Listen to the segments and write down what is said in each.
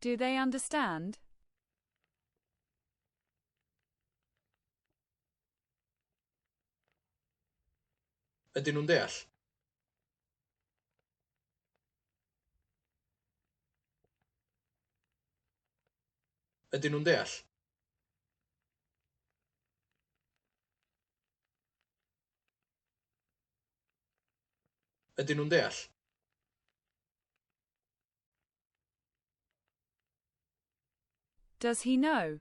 Do they understand? Ydyn nhw'n deall? Ydyn nhw'n deall? Ydyn nhw'n deall? Does he know?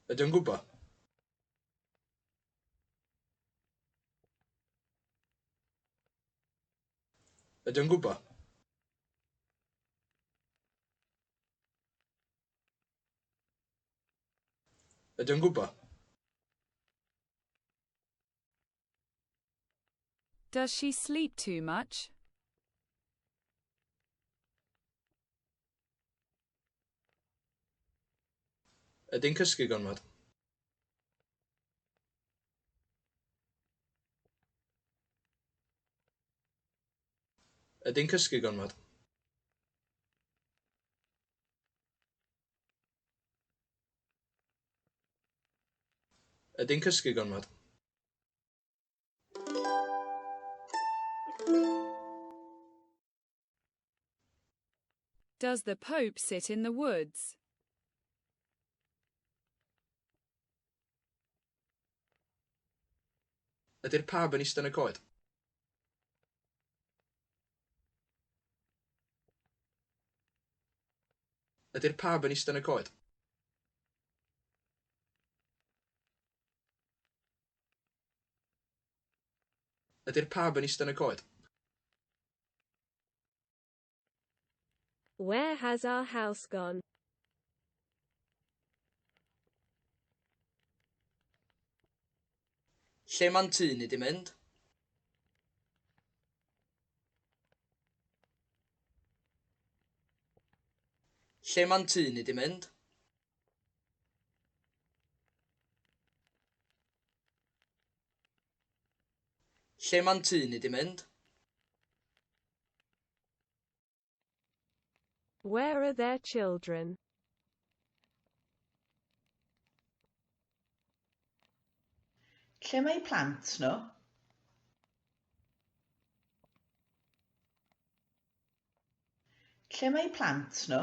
Ydy o'n gwybod? Ydy o'n gwybod? Ydy o'n gwybod? Does she sleep too much? Ydy'n cysgu gormod? Ydy'n cysgu gormod? Ydy'n cysgu gormod? Does the Pope sit in the woods? Ydy'r pab yn ista yn y coed? Ydy'r pab yn ista yn y coed? Ydy'r pab yn ista yn y coed? Where has our house gone? Lle mae'n tŷ ni di mynd? Lle mae'n tŷ ni di mynd? Lle ma'n tŷ ni di mynd? Where are their children? Lle mae eu plant nhw? Lle mae eu plant nhw?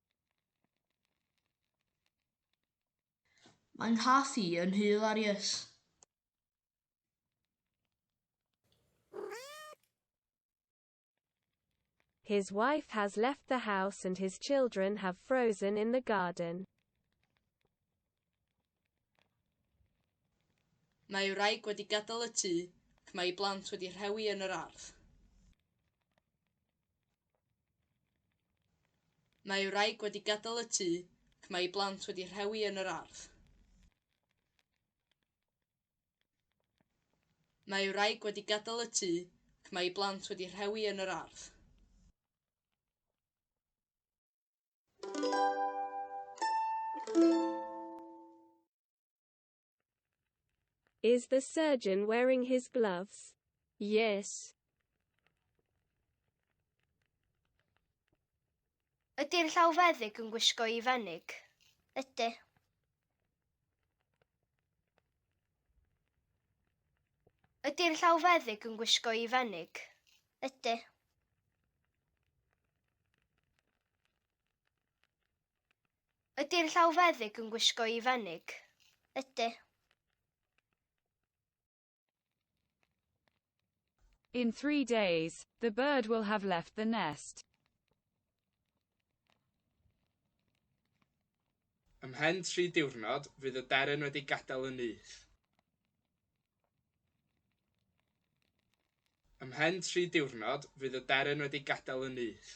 Mae nghaffi yn hilarious. His wife has left the house and his children have frozen in the garden. Mae ei wraig wedi gadael y tŷ ac mae ei blant wedi rhewi yn yr ardd. Mae wraig wedi gadael y tŷ ac mae ei blant wedi rhewi yn yr ardd. Mae wraig wedi gadael y tŷ ac mae ei blant wedi rhewi yn yr ardd. Is the surgeon wearing his gloves? Yes. Ydy'r llawfeddyg yn gwisgo i fenig? Ydy. Ydy'r llawfeddyg yn gwisgo i fenig? Ydy. Ydy'r llawfeddyg yn gwisgo i fenig? Ydy. In three days, the bird will have left the nest. Ymhen tri diwrnod, fydd y deryn wedi gadael y nyth. Ymhen tri diwrnod, fydd y deryn wedi gadael y nyth.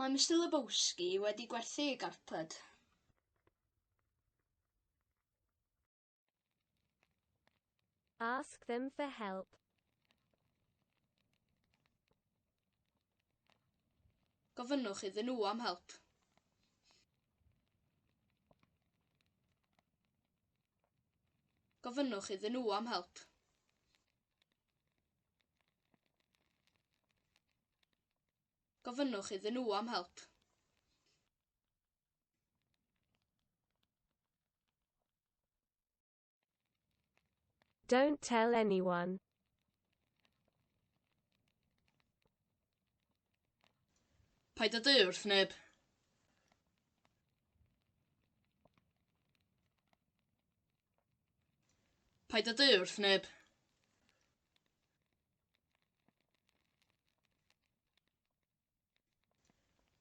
Mae Mister Lebowski wedi gwerthu ei garped. Ask them for help. Gofynnwch iddyn nhw am help. Gofynnwch iddyn nhw am help. Gofynnwch iddyn nhw am help. Don't tell anyone. Paid â dweud wrth neb. Paid â du wrth neb.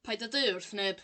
Paid â du wrth neb.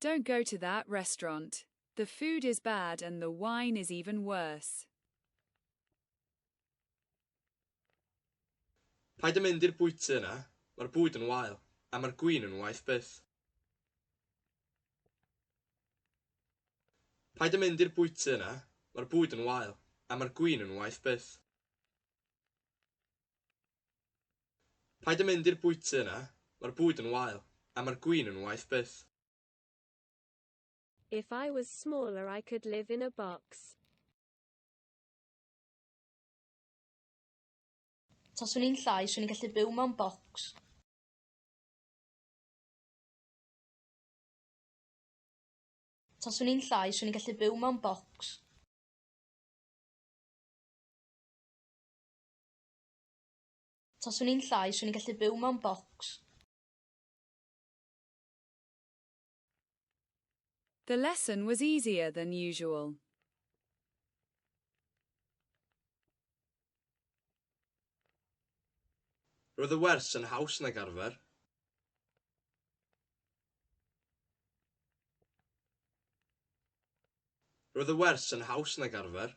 Don't go to that restaurant, the food is bad and the wine is even worse. Paid â mynd i'r bwyty yna, mae'r bwyd yn wael, a mae'r gwin yn waeth byth. Paid â mynd i'r bwyty yna, mae'r bwyd yn wael, a mae'r gwin yn waeth byth. Paid a mynd i'r bwyty yna, mae'r bwyd yn wael, a mae'r gwin yn waeth byth. If I was smaller I could live in a box. Taswn i'n llai, swn i'n gallu byw mewn bocs. Taswn i'n llai, swn i'n gallu byw mewn bocs. Taswn i'n llai, swn i'n gallu byw mewn bocs. The lesson was easier than usual. Roedd y wers yn haws nag arfer. Roedd y wers yn haws nag arfer.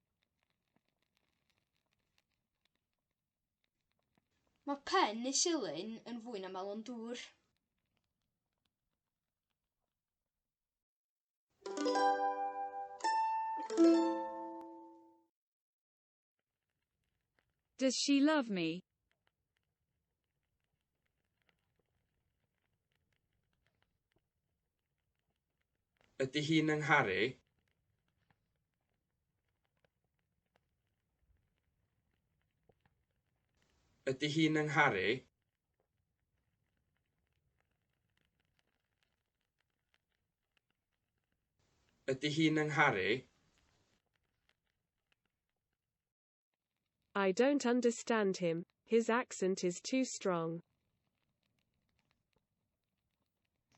Mae pen y silyn yn fwy na melon dŵr. Does she love me? Ydy hi'n 'y ngharu? Ydy hi'n 'y ngharu? Ydy hi'n 'y ngharu? I don't understand him, his accent is too strong.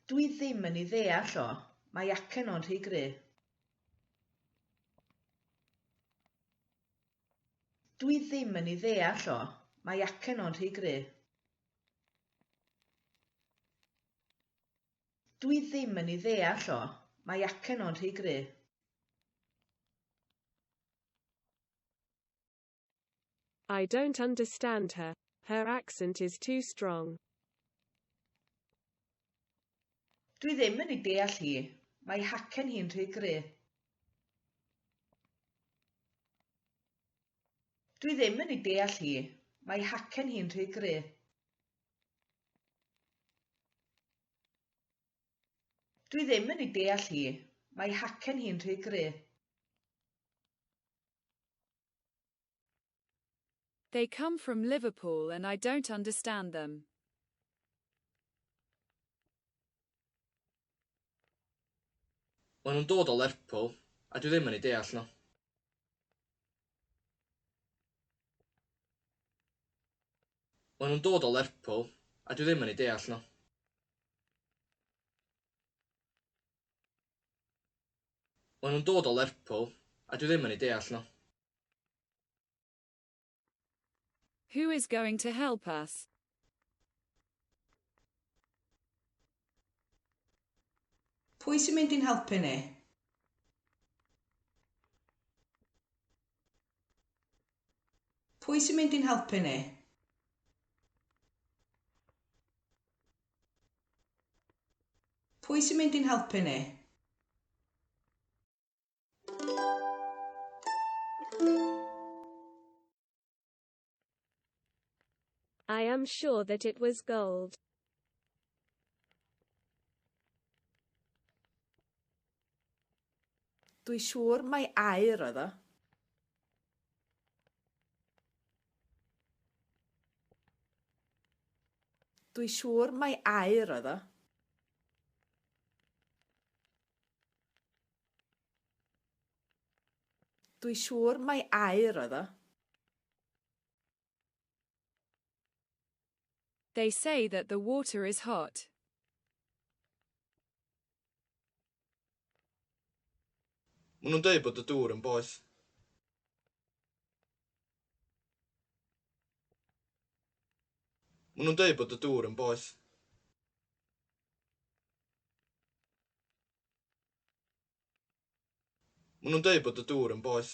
Dw i ddim yn ei ddeall o, mae acen o'n rhy gry. Dw i ddim yn ei ddeall o, mae acen o'n rhy gry. Dw i ddim yn ei ddeall o, mae acen o'n rhy gry. I don't understand her. Her accent is too strong. Dwi ddim yn ei deall hi. Mae hacen hi'n rhy gry. Dwi ddim yn ei deall hi. Mae hacen hi'n rhy gry. Dwi ddim yn ei deall hi. Mae hacen hi'n rhy gry. They come from Liverpool and I don't understand them. Maen nhw'n dod o Lerpwl a dwi ddim yn eu deall nhw. Maen nhw'n dod o Lerpwl a dwi ddim yn eu deall nhw. Maen nhw'n dod o Lerpwl a dwi ddim yn eu deall nhw. Who is going to help us? Pwy sy'n mynd i'n helpu ni? Pwy sy'n mynd i'n helpu ni? Pwy sy'n mynd i'n helpu ni? I am sure that it was gold. Dwi siŵr mai aer oedd o. Dwi siŵr mai aer oedd o. Dwi siŵr mai aur oedd o. They say that the water is hot. Maen nhw'n dweud bod y dŵr yn boeth. Maen nhw'n dweud bod y dŵr yn boeth. Maen nhw'n dweud bod y dŵr yn boeth.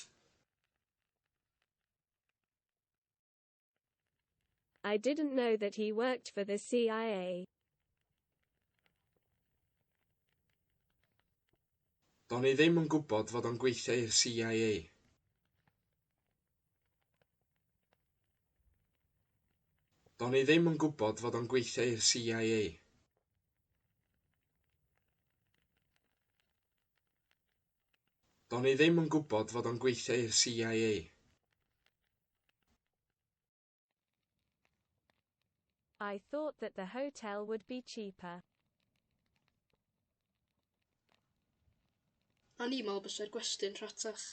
I didn't know that he worked for the CIA. Do'n i ddim yn gwybod fod o'n gweithio i'r CIA. Do'n i ddim yn gwybod fod o'n gweithio i'r CIA. Do'n i ddim yn gwybod fod o'n gweithio i'r CIA. I thought that the hotel would be cheaper. O'n i'n meddwl byse'r gwesty'n rhatach.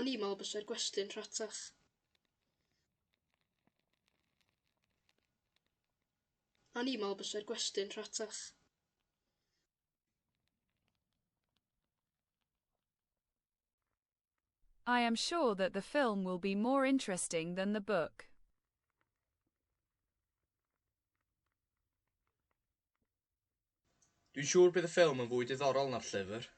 O'n i'n meddwl byse'r gwesty'n rhatach. O'n i'n meddwl byse'r gwestiwn rhatach. I am sure that the film will be more interesting than the book. Dwi'n siŵr bydd y ffilm yn fwy diddorol na'r llyfr.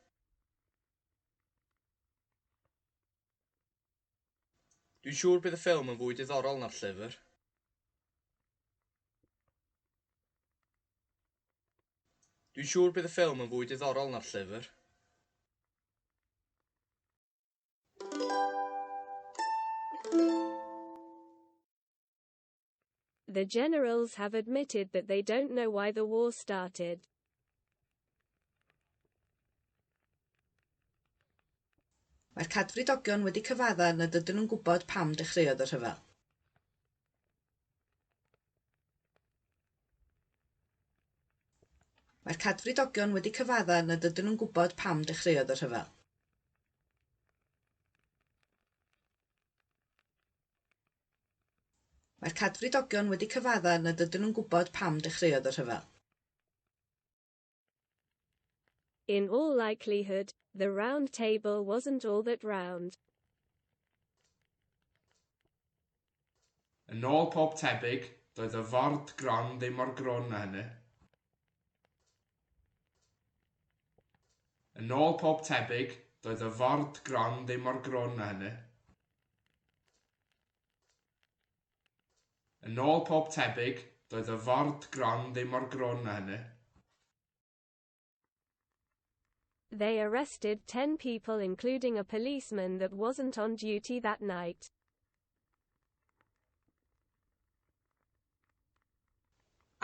Dwi'n siŵr bydd y ffilm yn fwy diddorol na'r llyfr. Dwi'n siŵr bydd y ffilm yn fwy diddorol na'r llyfr. The generals have admitted that they don't know why the war started. Mae'r cadfridogion wedi cyfadda nad ydyn nhw'n gwybod pam dechreuodd y rhyfel. Mae'r cadfridogion wedi cyfadda nad ydyn nhw'n gwybod pam dechreuodd y rhyfel. Mae'r cadfridogion wedi cyfadda nad ydyn nhw'n gwybod pam dechreuodd y rhyfel. In all likelihood, the round table wasn't all that round. Yn ôl pob tebyg, doedd y ford gron ddim mor grwn na hynny. Yn ôl pob tebyg, doedd y ford gron ddim mor grwn na hynny. Yn ôl pob tebyg, doedd y ford gron ddim mor grwn na hynny. They arrested ten people including a policeman that wasn't on duty that night.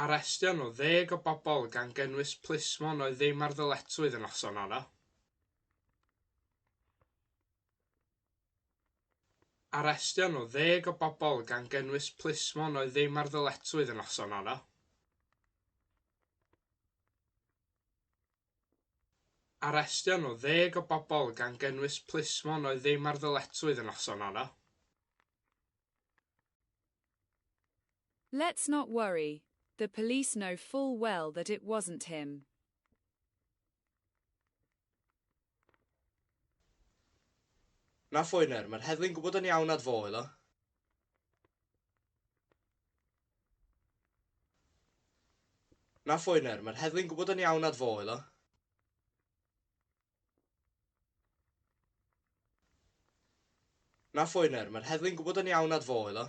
Arestio nhw ddeg o bobl gan gynnwys plismon oedd ddim ar ddyletswydd y noson honno. Arestion o ddeg o bobl, gan gynnwys plismon oedd ddim ar ddyletswydd y noson honno. Arestion o ddeg o bobl, gan gynnwys plismon oedd ddim ar ddyletswydd y noson honno. Let's not worry, the police know full well that it wasn't him. Na phoener, mae'r heddlu'n gwybod yn iawn nad fo oedd o. Na phoener, mae'r heddlu'n gwybod yn iawn nad fo oedd o. Na phoener, mae'r heddlu'n gwybod yn iawn nad fo oedd o.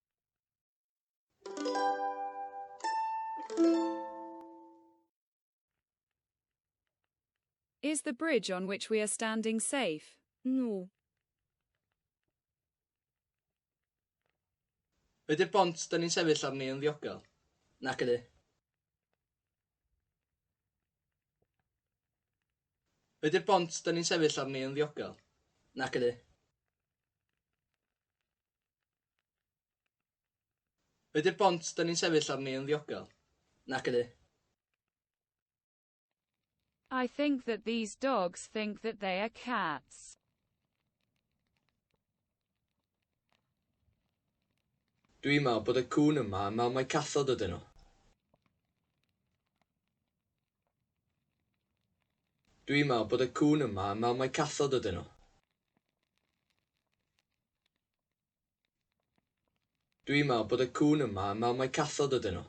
Is the bridge on which we are standing safe? No. Ydy'r bont da ni'n sefyll arni yn ddiogel? Nac ydy. Ydy'r bont da ni'n sefyll arni yn ddiogel? Nac ydy. Ydy'r bont dyn ni'n sefyll arni yn ddiogel? Nac ydy. I think that these dogs think that they are cats. Dwi'n meddwl bod y cŵn yma yn meddwl mai cathod ydyn nhw. Dwi'n meddwl bod y cŵn yma yn meddwl mai cathod ydyn nhw. Dwi'n meddwl bod y cŵn yma yn meddwl mai cathod ydyn nhw.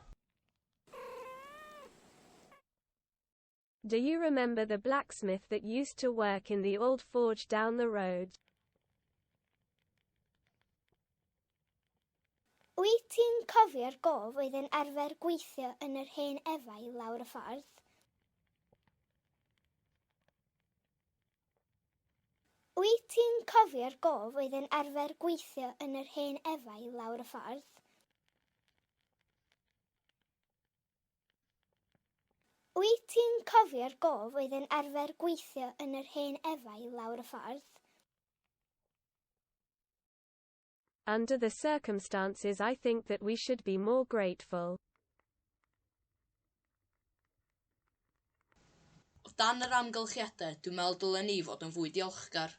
Do you remember the blacksmith that used to work in the old forge down the road? Wyt ti'n cofio'r gof oedd yn arfer gweithio yn yr hen efail lawr y ffordd? Wyt ti'n cofio'r gof oedd yn arfer gweithio yn yr hen efail lawr y ffordd? Wyt ti'n cofio'r gof oedd yn arfer gweithio yn yr hen efail lawr y ffordd? Under the circumstances I think that we should be more grateful. O dan yr amgylchiadau, dwi'n meddwl dylen ni fod yn fwy diolchgar.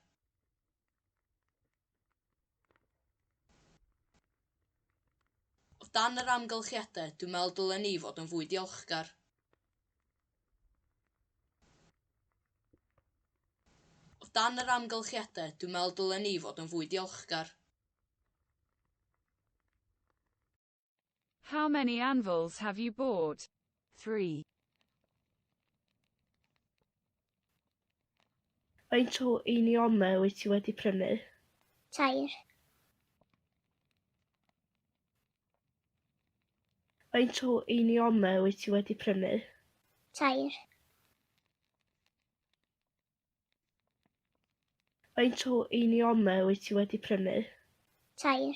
O dan yr amgylchiadau, dwi'n meddwl dylen ni fod yn fwy diolchgar. O dan yr amgylchiadau, dwi'n meddwl dylen ni fod yn fwy diolchgar. How many anvils have you bought? Three. Faint o einiomau wyt ti wedi prynu? Tair. Faint o einiomau wyt ti wedi prynu? Tair. Faint o einiomau wyt ti wedi prynu? Tair.